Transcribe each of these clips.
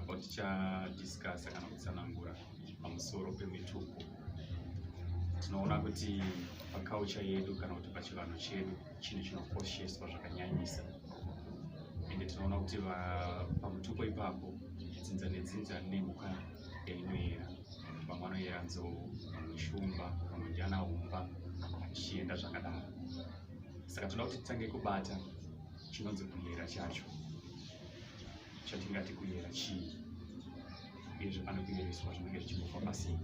apo tichadiscasa kana kutsanangura pamusoro pemitupo tinoona kuti pakaucha yedu kana kuti pachivanhu chedu chinhu chinokosheswa zvakanyanyisa ende tinoona kuti pamutupo ipapo dzinza nedzinza rine mhuka yainoyera vamwe anoyera nzou vamwe shumba vamwe ndiana humba zvichienda zvakadaro saka tinoda kuti titange kubata chinonzi kuyera chacho chatingati kuyera chii uyezve pane kuyereswa zvinenge zvichimbofa pasii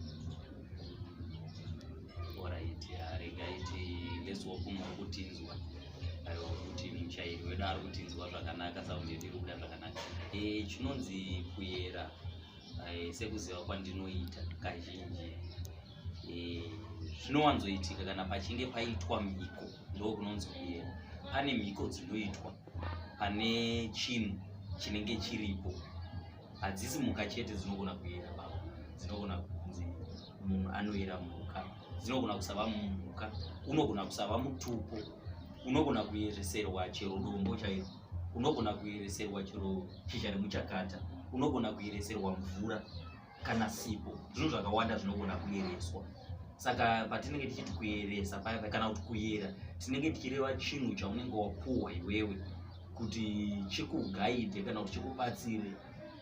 oraiti haringaiti let's walk muri kutinzwa aiwa kuti muchairi wedu ari kutinzwa zvakanaka saundi yedu iri kuda zvakanaka eh, chinonzi kuyera eh, sekuziva kwandinoita kazhinji eh, zvinowanzoitika kana pachinge paitwa mhiko ndokunonzi kuyera pane mhiko dzinoitwa pane chinhu chinenge chiripo hadzisi mhuka chete dzinogona kuyera baba dzinogona kunzi munhu anoyera mhuka dzinogona kusava mhuka unogona kusava mutupo unogona kuyereserwa chero dombo chairo unogona kuyereserwa chero shizha remuchakata unogona kuyereserwa mvura kana sipo zvinhu zvakawanda zvinogona kuyereswa saka patinenge tichiti kuyeresa paya kana kuti kuyera tinenge tichireva chinhu chaunenge wapuhwa iwewe kuti chikugaide kana kuti chikubatsire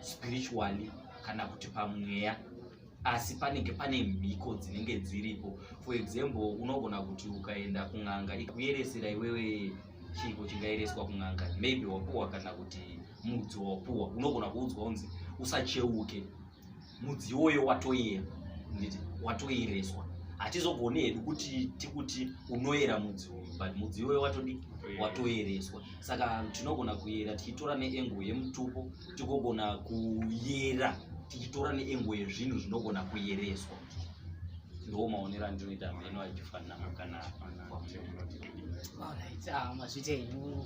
spiritually kana kuti pamweya asi panenge pane mhiko dzinenge dziripo for example unogona kuti ukaenda kun'anga ikuyeresera iwewe chiiko chingayereswa kun'anga maybe wapuhwa kana kuti mudzi wawapuwa unogona kuudzwa unzi usacheuke mudzi iwoyo watoyera nditi watoyereswa hatizogoni hedu kuti tikuti unoyera mudzi uyu but mudzi iwoyo watodi watoyereswa saka tinogona kuyera tichitora neengo yemutupo tigogona kuyera tichitora neengo yezvinhu zvinogona kuyereswa ndiwo maonero andinoita meno achifanana kana mazvita enyu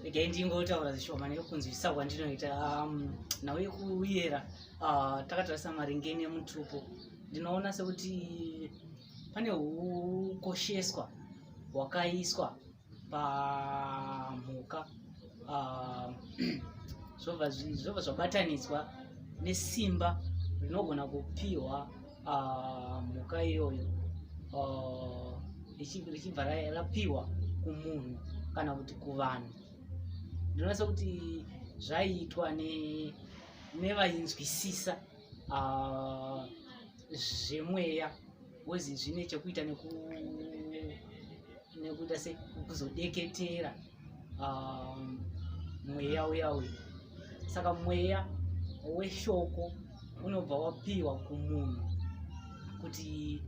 regai ndingotaura zvishoma nekunzwisisa kwandinoita um, nhau yekuyera uh, takatarisa maringe nemutupo ndinoona sekuti pane ukosheswa hwakaiswa pamhuka ah, zvobva zvabatanidzwa nesimba rinogona kupiwa ah, mhuka iyoyo ah, richibva rapiwa kumunhu kana kuti kuvanhu ndinonasa kuti zvaiitwa nevainzwisisa zvemweya bhozi zvine chekuita nekuita sekuzodeketera um, mweya uya uyu saka mweya weshoko unobva wapiwa kumunhu kuti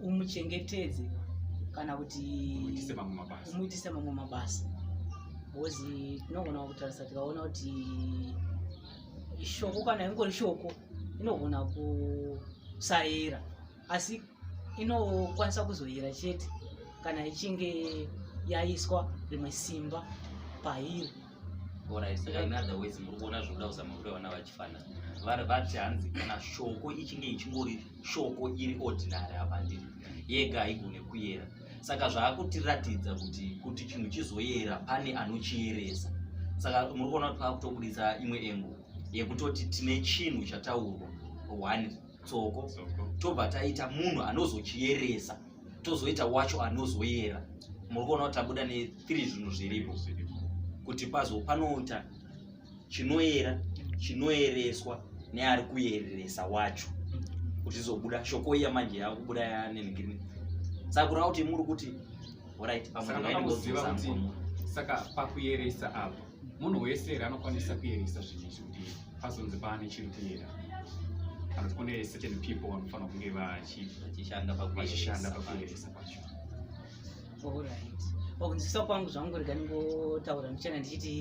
umuchengetedze kana kuti umuitise mamwe mabasa bhozi tinogona kutarisa tikaona kuti shoko kana ingori shoko inogona kusayera asi inokwanisa kuzoyera chete kana ichinge yaiswa rimwe simba pairi murikuona zvinoda kuzama kuti vana vachifana vari vati hanzi kana shoko ichinge ichingori shoko iri ordinary havandiri yega haigone kuyera saka zvaakutiratidza kuti kuti chinhu chizoyera pane anochiyeresa saka muri kuona kuti paakutobudisa imwe engo yekutoti tine chinhu chataurwa one tsoko tobva taita munhu anozochiyeresa tozoita wacho anozoyera muri kuona kuti tabuda nethre zvinhu zviripo kuti pazo panoita chinoyera chinoyereswa neari kuyereresa wacho kuti izobuda shoko iya manje yakubuda yanengirini saka kureva kuti muri kuti orit pamwe saka pakuyeresa apo munhu wese here anokwanisa kuyerisa zvinhu izvi kuti pazonzi paane chiri kuyera kana kuti kune certain people vanofanira kunge vachishanda pakuyeresa kwacho orit pakunzwisisa kwangu zvangu rega ndingotaura ndichana ndichiti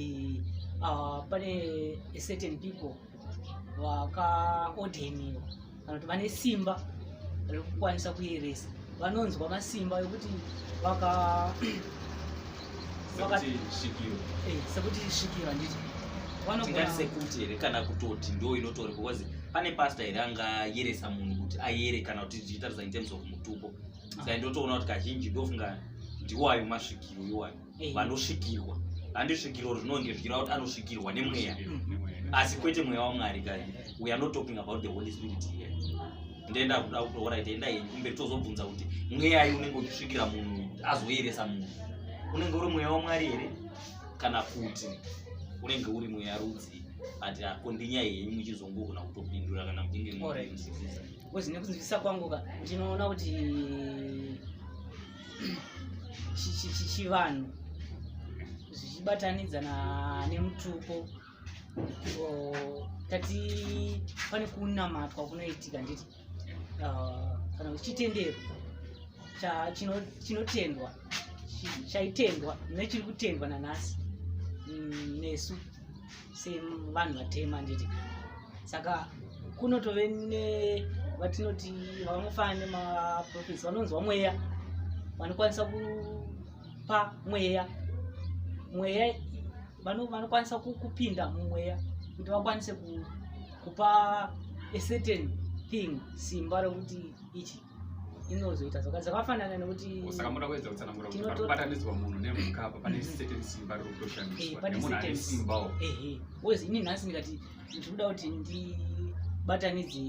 ah, pane certain people vakaodheniwa kana kuti vane simba rekukwanisa kuyeresa vanonzwa masimba ekuti vaka eh, sekuti svikiro handiti tingatisekuti here kana kutoti ndo inotori because pane pasta here angayeresa munhu kuti ayere kana kuti zvichitarisa in terms of mutupo ah. sai ndotoona kuti kazhinji ndofunga ndiwayo masvikiro iwayo eh. vanosvikirwa handisvikirwa zvinonge zvichira kuti anosvikirwa nemweya asi kwete mweya wamwari kai we are not talking about the holy spirit here ndenda kuda kuti orit enda henyu kumberi tozobvunza kuti mweyai unenge uchisvikira munhu azoyeresa munhu unenge uri mweya wamwari here kana kuti unenge uri mweya rudzii ati akondinyaya henyu muchizongogona kutopindura kana muchinge mwakuzivisakuzivisakwangua ndinoona kuti chivanhu zvichibatanidza nemutupo tati pane kunamatwa kunoitika nditi ah, kana kuti chitendero chinotendwa chaitendwa nechiri kutendwa nanhasi mm, nesu sevanhu vatema nditi saka kunotove ne vatinoti vanofanana nemaprofesi vanonzwa mweya vanokwanisa kupa mweya mweya vanokwanisa kupinda mumweya kuti vakwanise kupa a certain thing simba rokuti ichi inozoita zvaka zvakafanana nekuti saka muda kuedza kutsanangura kuti pari kubatanidzwa munhu nemhuka apa pane mm-hmm. certain simba riri kutoshandiswa eh, nemunhu ane simbawo ehe wezi ini nhasi ndikati ndiri kuda kuti ndibatanidze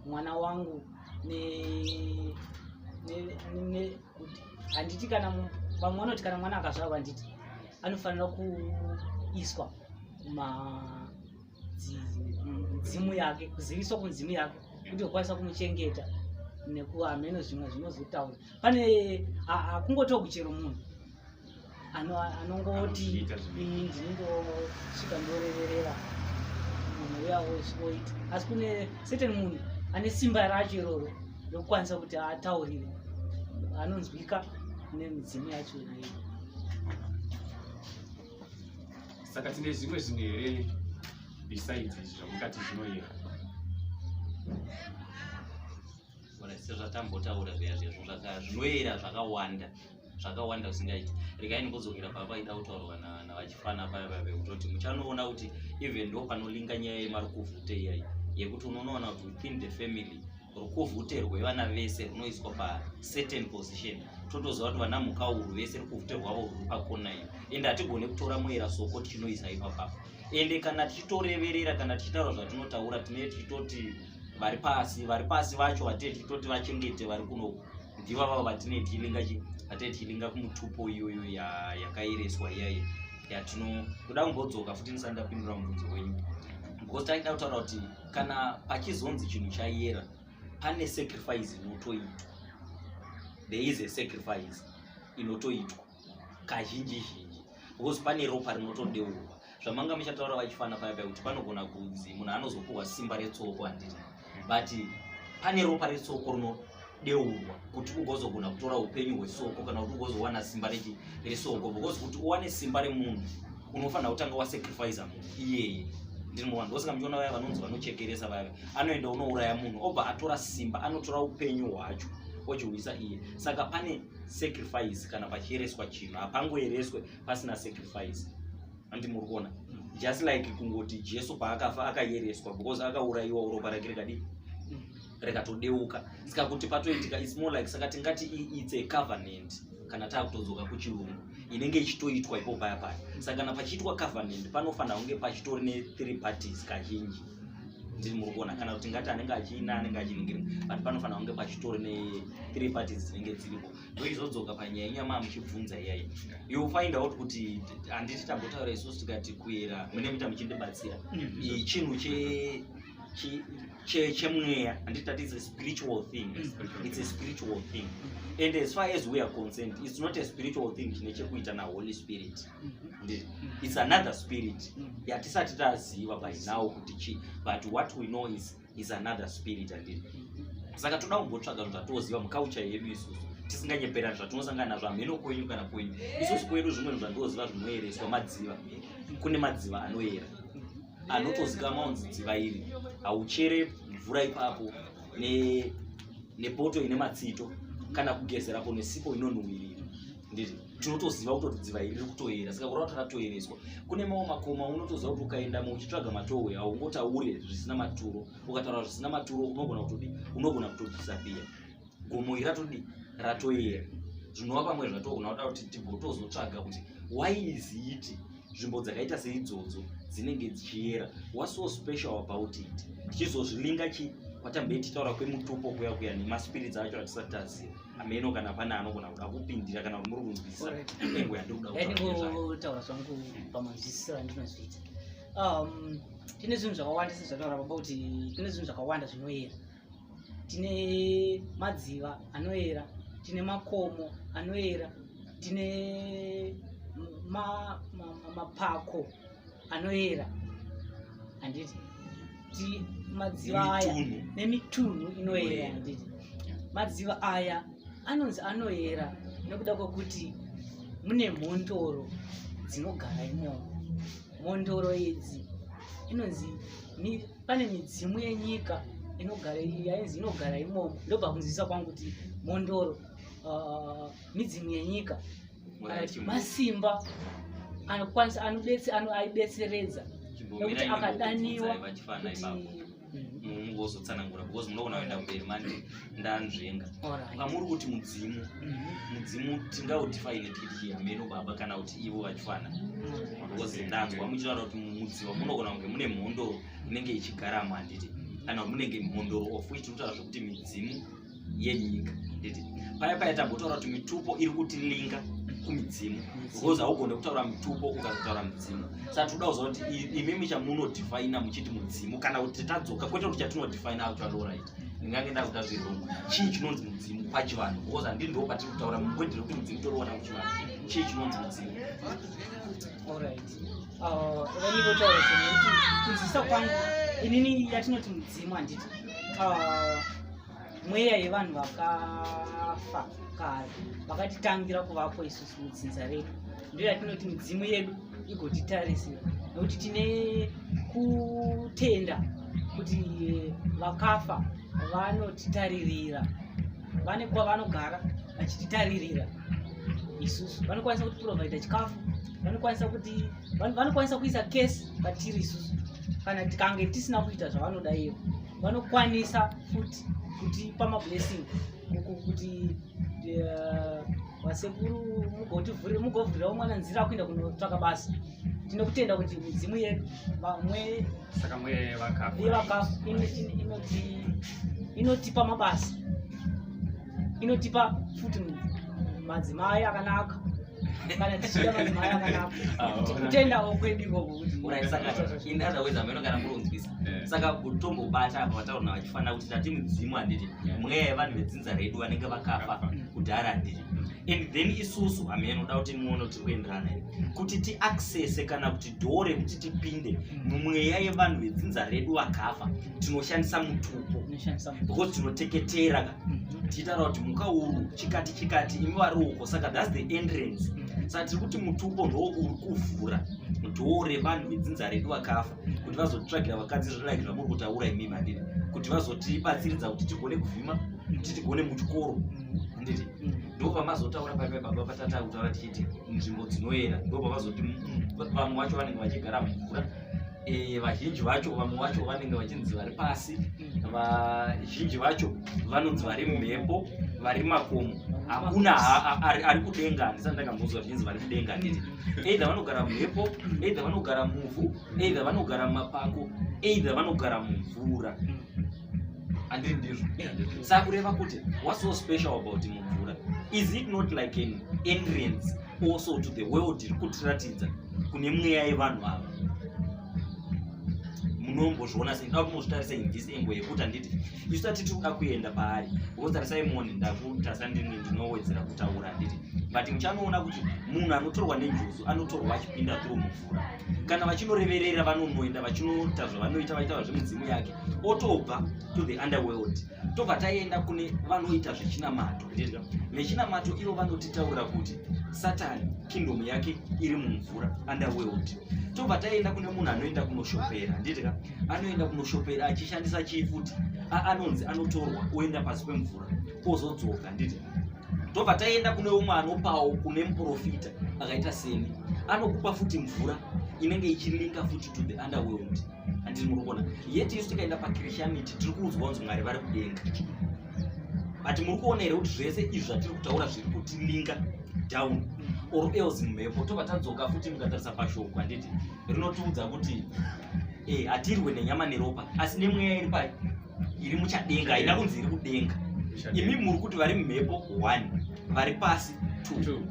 mwana wangu ne ne handiti kana vamwe vanoti kana mwana akazvarwa handiti anofanira kuiswa ma dzimu yake kuziviswa kunzimu yake kuti okwanisa kumuchengeta nekuva hameno zvimwe zvinozotaura pane hakungotiwo kuchero munhu anongoti ndinongosvika ndoreverera munhu uya oita asi kune certain munhu ane simba racho iroro rokukwanisa kuti ataurire anonzwika nemidzimu yacho iyoyo saka tine zvimwe zvinhu here besides izvi zvamukati zvinoyera sezvatambotaura zviya zvezvo zvinoyera zvakawanda zvakawanda zvisingaiti regai ndimbodzokera pava vaida kutaurwa navachifana paya vave kutoti muchanoona kuti even ndo panolinga nyaya yemarukuvhute iyayi yekuti unonoona kuti within the family rukuvhute rwevana vese runoiswa pacertain position totoziva kuti vana mhuka uru vese rukuvhute rwavo ruri pakona iyo ende hatigone kutora moera soko tichinoisa ipapapa ende kana tichitoreverera kana tichitaura zvatinotaura tinee tichitoti vari pasi vari pasi vacho vatee tichitoti vachengete vari kunoku ndiva vavo vatinee tichilinga vatee tichilinga kumutupo iyoyo yakaereswa iyayi yatino kuda kumbodzoka futi ndisati ndapindura mubvunzo wenyu because taida kutaura kuti kana pachizonzi chinhu chayera pane sacrifice inotoitwa there is a sacrifice inotoitwa kazhinji zhinji because pane ropa rinotodeurwa zvamanga muchataura vachifana paya paya kuti panogona kunzi munhu anozopuhwa simba retsoko handina but pane ropa retsoko rino deurwa kuti ugozogona kutora upenyu hwesoko kana kuti ugozowana simba resoko because kuti uwane simba remunhu unofanira kutanga wasacrifice munhu iyeye ndinoona ndosaka muchiona vaya vanonzi vanochekeresa vaya anoenda unouraya munhu obva atora simba anotora upenyu hwacho ochiuyisa iye saka pane sacrifice kana pachiereswa chinhu hapangoereswe pasina sacrifice andi muri kuona just like kungoti jesu paakafa akayereswa because akaurayiwa uropa rake rikadii rikatodeuka saka kuti patoitika its more like saka tingati its a covenant kana taakutodzoka kuchirungu inenge ichitoitwa ipo paya paya saka kana pachiitwa covenant panofanira kunge pachitori ne-three parties kazhinji ndiri muri kuona kana kuti ngati anenge achiina anenge achiningiri but panofanira kunge pachitori ne-three parties dzinenge dziripo ndoizodzoka panyaya inyama muchibvunza iyayi you find out kuti handiti tambotaura isusu tikati kuera mune muita muchindibatsira mm. chinhu che chemweya handiti that is a spiritual thing mm. it's a spiritual thing mm. and as far as we are concerned it's not a spiritual thing chine chekuita naholy spirit mm-hmm. mm. it's another spirit yatisati taziva by now kuti chii but what we know is, is another spirit andii mm-hmm. saka toda kumbotsvaga zvinhu zvatoziva mukaucha yedu isusu tisinganyeperani zvatinosangana nazvo hameno kwenyu kana kwenyu isusu kwedu zvimwe zvinhu zvandoziva zvinoyereswa madziva kune madziva anoyera anotozikamwa unzi dziva iri hauchere mvura ipapo nepoto ine matsito kana kugezerapo nesipo inonhuwirira ndiri tinotoziva kutoti dziva iri riri kutoyera saka kurava kuti rakatoyereswa kune mawo makoma unotoziva kuti ukaendamo uchitsvaga matowe haungotaure zvisina maturo ukataura zvisina maturo unogona kutodi unogona kutodhisapiya gomo iri ratodii ratoyera zvinova pamwe zvatoona kuda kuti tigotozotsvaga kuti why is it nzvimbo dzakaita seidzodzo dzinenge dzichiyera what's so special about it tichizozvilinga chi kwatambe tichitaura kwemutupo kuya kuya nemaspirits acho atisati taziva ameno kana pane anogona kuda kupindira kana kuti muri kunzwisa engo yandirikudaotaura zvangu pamanzwisisiro andinozviita um, tine zvinhu zvakawandisa zvataura baba kuti tine zvinhu zvakawanda zvinoyera tine madziva anoera tine makomo anoera tine mapako ma, ma, ma anoera handiti ti madziva aya nemitunhu inoera handiti madziva aya anonzi anoera nekuda kwekuti mune mhondoro dzinogara imomo mhondoro idzi inonzi pane midzimu yenyika inogara yainzi inogara imomo ndobva kunzwisisa kwangu kuti mhondoro uh, midzimu yenyika masimba anokwanisa anobetse aibetseredza nekuti akadaniwa mm. muzotsanangura because munogona kuenda kumberi manje ndanzvenga kunga muri kuti mudzimu mhm. mudzimu tingaudifaine tikiti hameno baba kana kuti ivo vachifana because ndanzwa muchitaura kuti mudziva munogona kunge mune mhondo inenge ichigaramo handiti kana munenge mhondo of which tinotaura zvekuti midzimu yenyika handiti paya paya tambotaura kuti mitupo iri kutilinga kumidzimu because haugone kutaura mitupo ukatotaura midzimu saka tinoda kuziva kuti imimi chamunodifaina muchiti mudzimu kana kuti tadzoka kwete kuti chatinodifaina acho aloright ndingange ndakuda zvirungu chii chinonzi mudzimu pachivanhu because handii ndo patiri kutaura mubwedhiro kuti mudzimu toriona kuchivanhu chii chinonzi mudzimu vanivotaura zvinhu kuti kunzwisisa kwangu inini yatinoti mudzimu handiti uh, mweya yevanhu vakafa kare vakatitangira kuvapo isusu mudzinza redu ndiyo yatinoti midzimu yedu igotitarisiwa nokuti tine kutenda kuti eh, vakafa vanotitaririra vane kwavanogara vachititaririra isusu vanokwanisa kuti provaida chikafu vanokwanisa kuti vanokwanisa kuisa kesi patiri isusu kana tikange tisina kuita zvavanoda ivo vanokwanisa futi kutipa mablessing kuti vasekuru mugotivhuri mugovhurirawo mwana nzira akuenda kunotsvaka basa tine kutenda kuti midzimu yedu vamwe saka mwe vakafa inotipa mabasa inotipa futi madzimai akanaka kana tichida madzimai akanaka tikutendawo ah, kwedu ikoko kutiaaaokanamurunzwisa eh. saka kutombobata apa vataurna vachifanira kuti tati mudzimu handiti mweya yevanhu vedzinza redu vanenge vakafa kudhara handiti and then isusu hamenoda kuti muone tiri kuenderana kuti tiaccese kana kuti dhoo rekuti tipinde mumweya yevanhu vedzinza redu vakafa tinoshandisa mutupo because tinoteketera ka mhm. tiitaura kuti muka uru chikati chikati imi vari uko saka thats the entrance mhm. saka tiri kuti mutupo ndoo uri kuvhura dhoo revanhu vedzinza redu vakafa kuti vazotitsvagira vakadzi zvodaiki zvamuri kutaura imi mandiri kuti vazotibatsiridza kuti tigone kuvhima kuti tigone muchikoro handiti mhm. ndovamazotaura paipa baba patata kutaura tichiti nzvimbo dzinoyera ndovamazoti vamwe vacho vanenge vachigara mvura e, vazhinji vacho vamwe vacho vanenge vachinzi vari pasi vazhinji vacho vanonzi vari mhepo vari makomo hakuna ari kudenga handisati ndakambozwa zvichinzi vari kudenga nditi either vanogara mhepo either vanogara muvhu either vanogara mumapako either vanogara mumvura andiri ndizvo sakureva kuti what's so special about mumvura is it not like an entrance also to the world iri kutiratidza kune mweya yevanhu ava munombozviona sei ndaa kumozvitarisa in this angle yekuti handiti isu tati tikuda kuenda paari wotarisai moni ndakutarisa ndini ndinowedzera kutaura handiti but muchanoona kuti munhu anotorwa nenjuzu anotorwa achipinda through mumvura kana vachinoreverera vanonoenda vachinoita zvavanoita vaita vazvemudzimu yake otobva to the underworld tobva taenda kune vanoita zvechinamato nechinamato ivo vanotitaurira kuti satani kingdom yake iri mumvura underworld tobva taenda kune munhu anoenda kunoshopera nditika anoenda kunoshopera achishandisa chii futi anonzi anotorwa oenda pasi pemvura ozodzoka nditi tobva taenda kune umwe anopawo kune muprofita akaita seni anokupa futi mvura inenge ichilinka futi to the underworld andiri muri kuona yet isu tikaenda pachristianity tiri kuudzwa kunzi mwari vari kudenga but muri kuona here kuti zvese izvi zvatiri kutaura zviri kutilinga down or else mhepo tobva tadzoka futi mukatarisa pashoko handiti rinotiudza kuti eh, hatirwe nenyama neropa asi nemweya iri pa iri muchadenga haina kunzi iri kudenga imi muri kuti vari mhepo one vari pasi two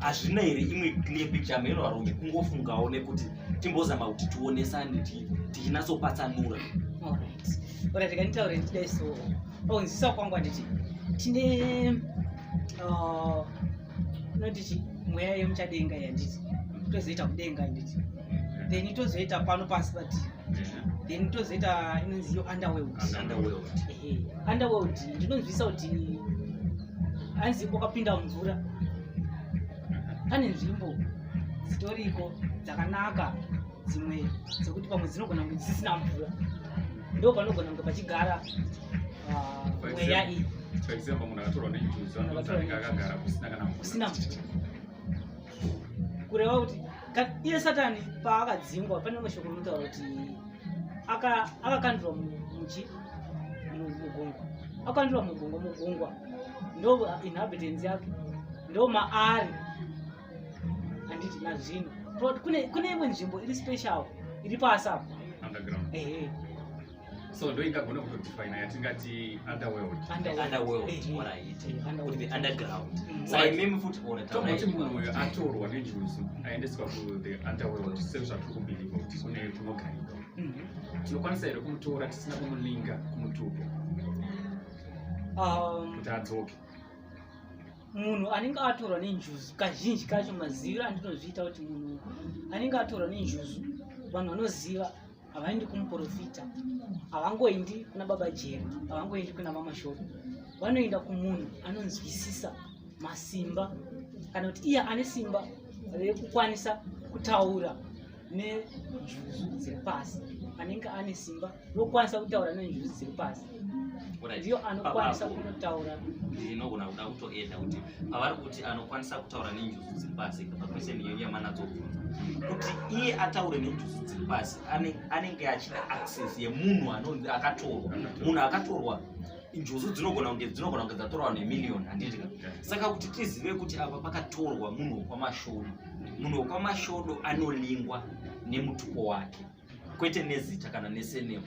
hazvina here imwe clear picture mheno varombi kungofungawo nekuti timbozama kuti tionesane tichinatsopatsanura ora tikanitaure ndidai so onzisa oh, kwangu anditi tine unotiti uh, mweya yemuchadenga yanditi tozoita kudenga anditi then tozoita pano pasi but then tozoita inonzi yo underworld underworld ndinonzwisa kuti anzi wakapinda mvura pane nzvimbo dzitoriko dzakanaka dzimwe dzekuti pamwe dzinogona kunge dzisisina mvura ndo panogona kunge pachigara ah, mweya iyi kusina mvura kureva kuti iye satani paakadzingwa pane rimwe shoko rinotaura kuti akakandurwa muchi mugungwa akakandurwa mugungwa mugungwa ndo inhabitants yake ndo maari handiti nazvino but kune kune imwe nzvimbo iri special iri pasi apo underground ehe so ndo ingagona kutodefina yatingati underworld underworld Ehe. what I eat Ehe, would underworld. be underground Mm. so I meme food or a town tokuti munhu uyo atorwa nenjuzu aendeswa kuthe underworld sezvatiri kubhilivha kuti kune kunogarika Mhm. tinokwanisa here kumutora tisina kumulinga kumutupo Um, kuti adzoke munhu anenge atorwa nenjuzu kazhinji kacho maziviro andinozviita kuti munhu anenge atorwa nenjuzu vanhu vanoziva havaendi kumuprofita havangoendi kuna baba jeri havangoendi kuna mamashoko vanoenda kumunhu anonzwisisa masimba kana kuti iye ane simba rekukwanisa kutaura nenjuzu dziri pasi anenge ane simba nokwanisa kutaura nenjuzu dziri pasi ndiyo anokwanisa kunotaura ndinogona kuda kutoenda kuti pavari kuti anokwanisa kutaura nenjuzu dziri pasi pakwese niyo yamanadzobvunza kuti iye ataure nenjuzu dziri pasi anenge achida access yemunhu anonzi akatorwa munhu akatorwa njuzu dzinogona kunge dzinogona kunge dzatorwa nemiliyoni handiti ka saka kuti tizive kuti apa pakatorwa munhu wekwamashodo munhu wekwamashodo anolingwa nemutupo wake kwete nezita kana nesenemo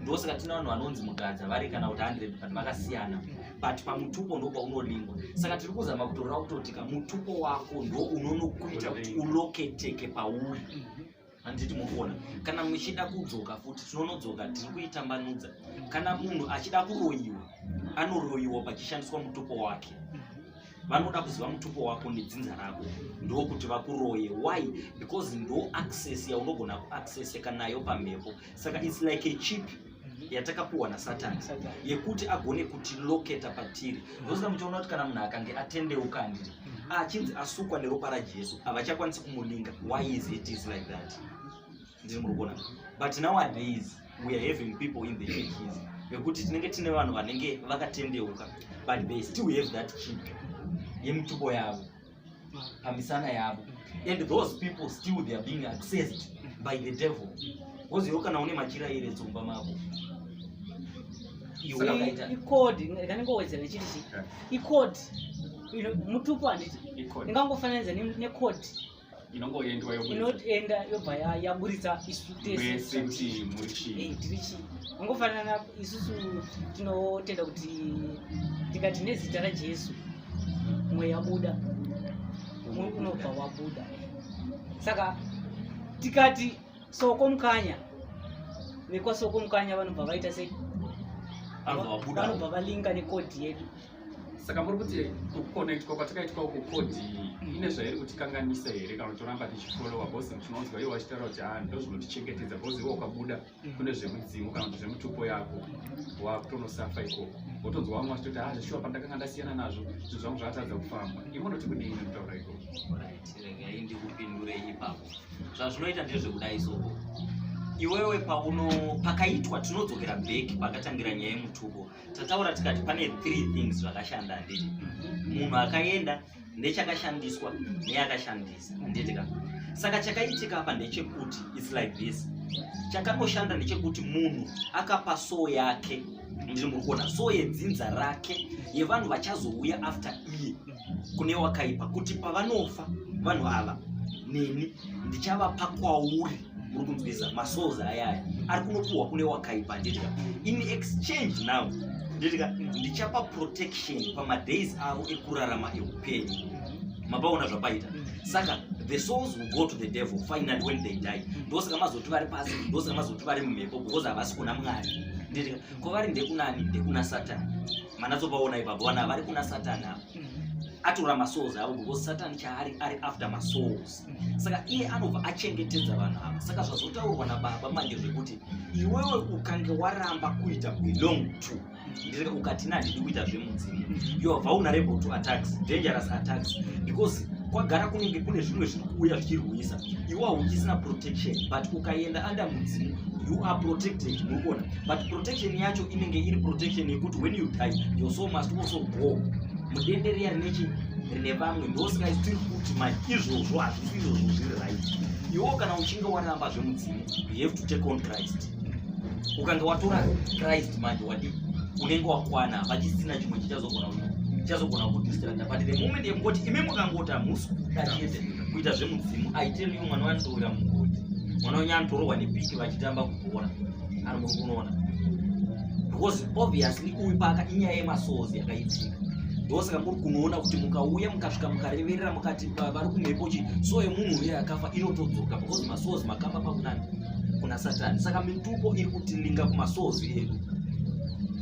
ndosaka tine vanhu vanonzi mugadza vari kana kuti 100 but vakasiyana but pamutupo ndopa unolingwa saka tiri kuzama kutoreva kutoti ka mutupo wako ndo unonokuita kuti uloketeke pauri handiti mukuona kana muchida kudzoka futi tinonodzoka tiri kuitambanudza kana munhu achida kuroyiwa anoroyiwa pachishandiswa mutupo wake vanoda kuziva mutupo wako nedzinza rako ndokuti vakuroye why because ndo access yaunogona kuaccesseka nayo pamhepo saka its like a chip yatakapiwa nasatani yekuti agone kutiloketa patiri ndosaka muchaona kuti kana munhu akange atendeuka andiri mm-hmm. achinzi asukwa neropa rajesu havachakwanisi kumulinga why is it is like that ndiri muri kuona but nowadays we are having people in the churches vekuti tinenge tine vanhu vanenge vakatendeuka but they still have that chip yemutupo yavo pamisana yavo and those people still they are being accessed by the devil because iwe kana une machira ere dzumba mako ikodi kaningowedzera ichiti chi ikodi mutupo handiti ingangofananidza nekodi inongoenda yobva yaburitsa isu tese tiri chii angofanana isusu tinotenda kuti tikati nezita rajesu mweya buda umwe unobva wabuda saka tikati soko mukanya vekwasoko mukanya vanobva vaita sei vanobva valinga nekodhi yedu saka muri kuti kuconnectwa kwatakaitwa uku kodhi ine zvairi kutikanganisa here kana toramba tichifollowa bcause tinonzwa iwo vachitaura kuti haa ndozvinotichengetedza bcause iwo ukabuda kune zvemudzimu kana kuti zvemutupo yako wakutonosafa ikoko wotonzwa vamwe vachitoti ha ah, zveshuwa pandakanga ndasiyana nazvo zvinhu zvangu zvakatadza kufamba imonoti kudii nekutaura ikoko regai ndikupindurei ipapo zvazvinoita ndezvekudai soko iwewe pauno pakaitwa tinodzokera back pakatangira nyaya yemutupo tataura tikati pane three things zvakashanda handiti munhu akaenda ndechakashandiswa neyakashandisa handitika saka chakaitika apa ndechekuti its like this chakanoshanda ndechekuti munhu akapa soo yake ndiri muri kuona soo yedzinza rake yevanhu vachazouya after iye kune wakaipa kuti pavanofa vanhu ava neni ndichavapa kwauri uri kunzwisa masouls ayaya ari kunopuhwa kune wakaipa handitika in exchange now nditika ndichapa protection pamadays avo ekurarama eupenyu mapaona zvapaita saka the souls will go to the devil finally when they die ndosaka mazoti vari pasi ndosaka mazoti vari mumhepo because havasi kuna mwari nditika kwavari ndekunani ndekuna satani manatsopaona ipapo vana vari kuna satani avo atora masouls avo because satani chaari ari after masouls saka iye anobva achengetedza vanhu ava saka zvazotaurwa nababa manje zvekuti iwewe ukange waramba kuita belong to ndireka ukati na ndidi kuita zvemudzimu you are vulnerable to attacks dangerous attacks because kwagara kunenge kune zvimwe zviri kuuya zvichirwisa iwe hauchisina protection but ukaenda under mudzimu you are protected murikuona but protection yacho inenge iri protection yekuti when you die your soul must also go mudenderiya rine chii nevamwe ndosaka tiri kuti manje izvozvo hazvisi izvozvo zviri right iwo kana uchinge waramba zvemudzimu you have to take on christ ukange watora christ manje wadi unenge wakwana vachisina chimwe chichazogona chichazogona kudistrata but the moment yekungoti imi mukangoti hamusi kuda chete kuita zvemudzimu aiteliyo mwana wandowira mugoti mwana wenyu anotorohwa nepiki vachitamba kugora kana muri kunoona because obviously uyu paka inyaya yemasozi yakaitika ndosaka muri kunoona kuti mukauya mukasvika mukareverera mukati vari kumhepo chi so yemunhu uye akafa inotodzoka because masozi makamba pakunani kuna satani saka mitupo iri kutilinga kumasozi edu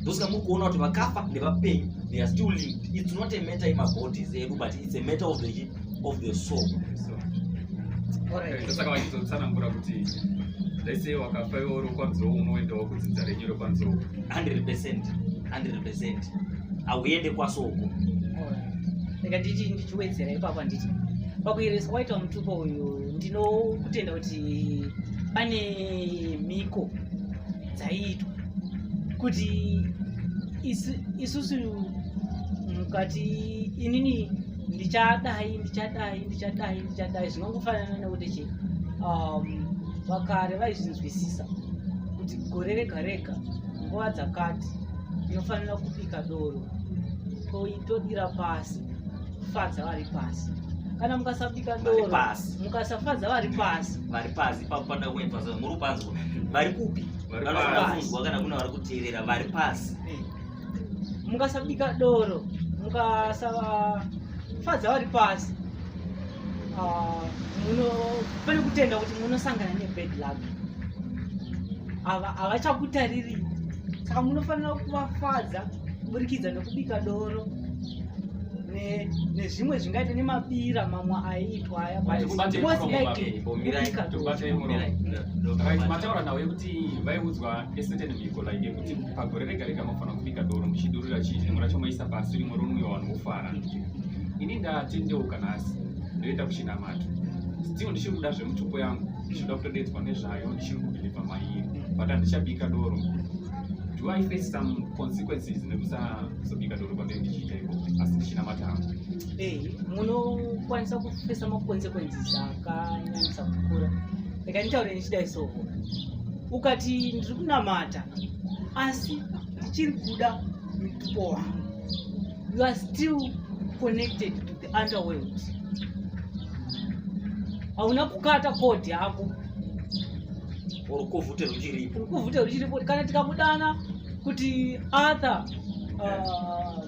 ndosaka muri kuona kuti vakafa nevapenyu they are still linked it's not a matter yemabodies edu but it's a matter of the of the soul ndosaka vachizotsanangura kuti lese wakafa iwe uri kwanziro unoendawo kudzinza renyu rekwanziro 100 percent 100 percent hauende kwasoko rega nditi ndichiwedzera ipapo handiti pakuyereswa kwaita mutupo uyu ndinokutenda kuti pane mhiko dzaiitwa kuti isusu mukati inini ndichadai ndichadai ndichadai ndichadai zvinongofanana nekuti che um, vakare vaizvinzwisisa kuti gore rega rega nguva dzakati inofanira kubika doro todira pasi kufadza vari pasi kana mukasabika doro mukasafadza vari pasi vari pasi ipapo panda kuenfasa muri kupanzwa vari kupi vanofunzwa kana kuna vari kuteerera vari pasi eh. mukasabika doro mukasafadza vari pasi ah, pane kutenda kuti munosangana nebad luck havachakutariri saka munofanira kuvafadza kuburikidza nekubika doro nezvimwe zvingaita nemabira mamwe aiitwa ayabaiaura nhau yekuti vaiudzwa eseteni mhiko like yekuti pagore rega rega mafanira kubika doro muchidurira chii rimwe racho maisa pasi rimwe ronwiwa vanhu vofara ini ndatendeuka nhasi ndoenda kuchinamato still ndichiri kuda zvemutupo yangu ndichida kutodedzwa nezvayo ndichiri kubhiliva maiye but handichabika doro do i face some consequences nekusazobika doro kwandei ndichiita iko asi ndichinamata hangu eh, munokwanisa kufesa maconsequences akanyanyisa kukura rekanitaure ndichidai soho ukati ndiri kunamata asi ndichiri kuda mutupo wangu you are still connected to the underworld hauna kukata kodhi yako rukuvhute ruchiripo rukuvhute ruchiripo kana tikamudana kuti arthur uh,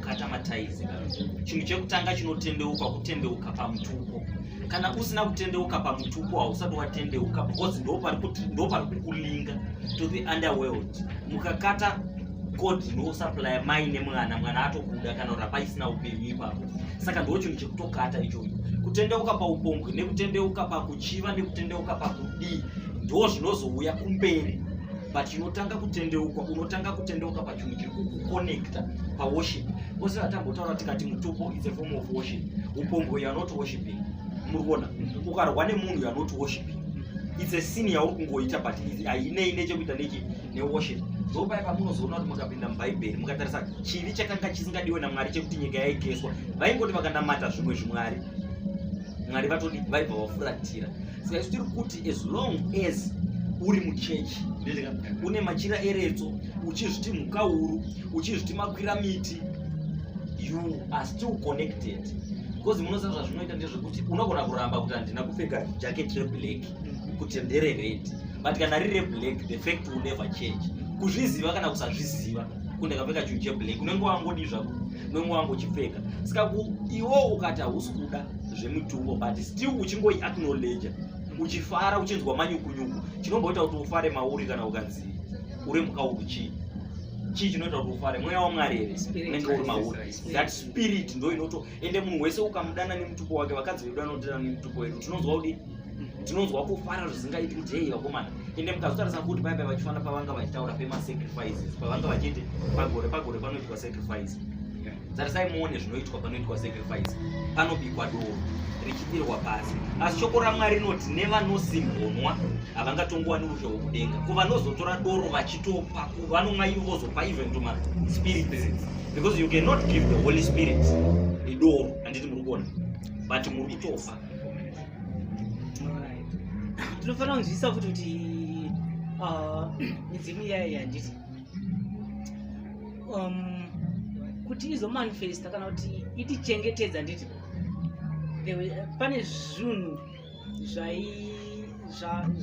kata mataizi chinhu chekutanga chinotendeuka kutendeuka pamutupo kana usina kutendeuka pamutupo hausati watendeuka because ndopari kukulinga to the underworld mukakata god ndosupplya mai nemwana mwana atobuda kana kuti hapaisina upenyu ipapo saka ndo chinhu chekutokata ichoyo kutendeuka paupombwe nekutendeuka pakuchiva nekutendeuka pakudii ndo zvinozouya kumberi but inotanga kutendeukwa unotanga kutendeuka chinhu chiri kukuconnecta paworship ose vatambotaura tikati mutupo is a form of worship upombwe you are not worshiping muri kuona ukarwa nemunhu you are not worshiping it's a sin yauri kungoita but hainei nechekuita nechi neworship ndopai pamunozoona kuti mukapinda mubhaibheri mukatarisa chivi chakanga chisingadiwe namwari chekuti nyika yaigeswa vaingoti vakanamata zvimwe zvimwari mwari vatodi vaibva vafuratira saka isu tiri kuti as long as uri muchechi une machira eretso uchizviti mhukauru uchizviti makwira miti you are still connected because munoziva zvazvinoita ndezvekuti unogona kuramba kuti handina kupfeka jacket reblack mm-hmm. kuti ndere red but kana riri reblack the fact will never change kuzviziva kana kusazviziva kuti ndakapfeka chinhu cheblack unenge wangodi zvako unenge wangochipfeka saka iwo ukati hausi kuda zvemutumbo but still uchingoi acknowledge uchifara uchinzwa manyukunyuku chinomboita kuti ufare mauri kana ukanzi uri mukauru chii chii chinoita kuti ufare mweya wamwari here unenge uri mauri that spirit ndo inoto ende munhu wese ukamudana nemutupo wake vakadzi vedu vanodana nemutupo wedu tinonzwa kudi tinonzwa kufara zvisingaiti kuti hei vakomana ende mukazotarisa kuti paipai vachifanira pavanga vachitaura pemasacrifices pavanga vachiti pagore pagore panoitwa sacrifice tarisai muone zvinoitwa panoitwa sacrifice panobikwa doro richidirwa pasi asi shoko ramwari rinoti nevanosimhonwa havangatongowani rudo hwokudenga ko vanozotora doro vachitopa vanomwa ivo vozopa even to maspirit because you cannot give the holy spirit idoro handiti muri kuona but muri kutofa tinofanira kunzwisisa futi kuti uh, midzimu iyayi handiti um, kuti izomanifesta kana kuti itichengetedza nditi pane zvinhu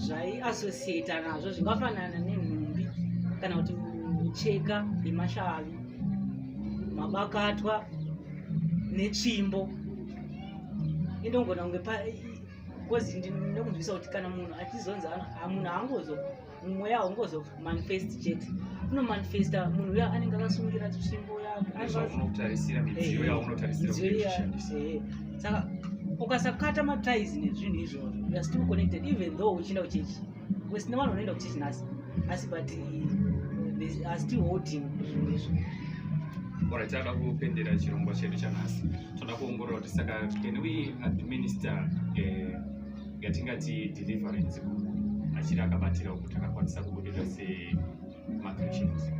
zvaiassociata nazvo zvingafanana nenhumbi kana kuti micheka yemashavi mabakatwa netsvimbo inongona kunge bcause ndinokunzwisa kuti kana munhu achizonzi munhu haangozo mweya haungozomanifest chete unomanifesta munhu uya anenge akasungira tsvimbo yakeautarisira midziyo eh, yaunotarisiraushandisa eh, saka ukasakata matis nezvinhu izvozvo youare still connected even though uchienda kuchechi wesina vanhu vanoenda kuchechi nhasi asi but eh, are still holding zvinhu izvo ora tinoda kupendera chirongwa chedu chanhasi tinoda kuongorora kuti saka can we administer uh, yatingati deliverance kumunhu achiri akabatira uku takakwanisa kubudirira semachristans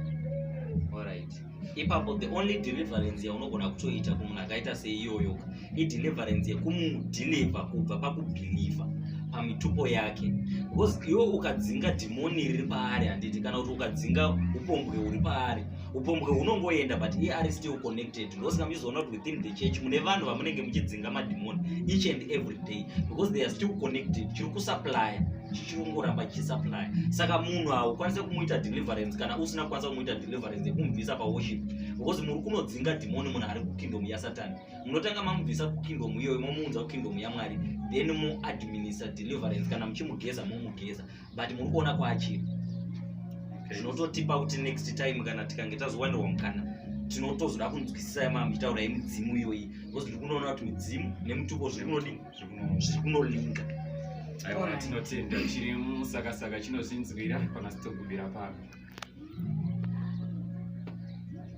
orit ipapo the only deliverance yaunogona kutoita kumunhu akaita seiyoyo ideliverance yekumudeliver kubva pakubhilivha pamitupo yake because iwe ukadzinga dhimoni riri paari handiti kana kuti ukadzinga upombwe huri paari upombwe hunongoenda but iye ari still connected ndosaka muchizoona kuti within the church mune vanhu vamunenge muchidzinga madhimoni each and every day because they are still connected chiri kusuplya chichirongoramba chichisaplya saka munhu haukwanise kumuita deliverance kana usina kukwanisa kumuita deliverance yekumubvisa paworship because muri kunodzinga dhimoni munhu ari kukingdom yasatani munotanga mamubvisa kukingdom iyoyo momuunza kukingdom yamwari then moadminister deliverance kana muchimugeza momugeza but muri kuona kwaachiri zvinototipa kuti next time kana tikange tazowanirwa mukana tinotozoda kunzwisisa yamamuchitaura yemidzimu iyoyi because ndiri kunoona kuti midzimu nemutupo zviri kunodii zviri kunolinga aiwa tinotenda chiri musakasaka chinozvinzwira kana sitogubira pano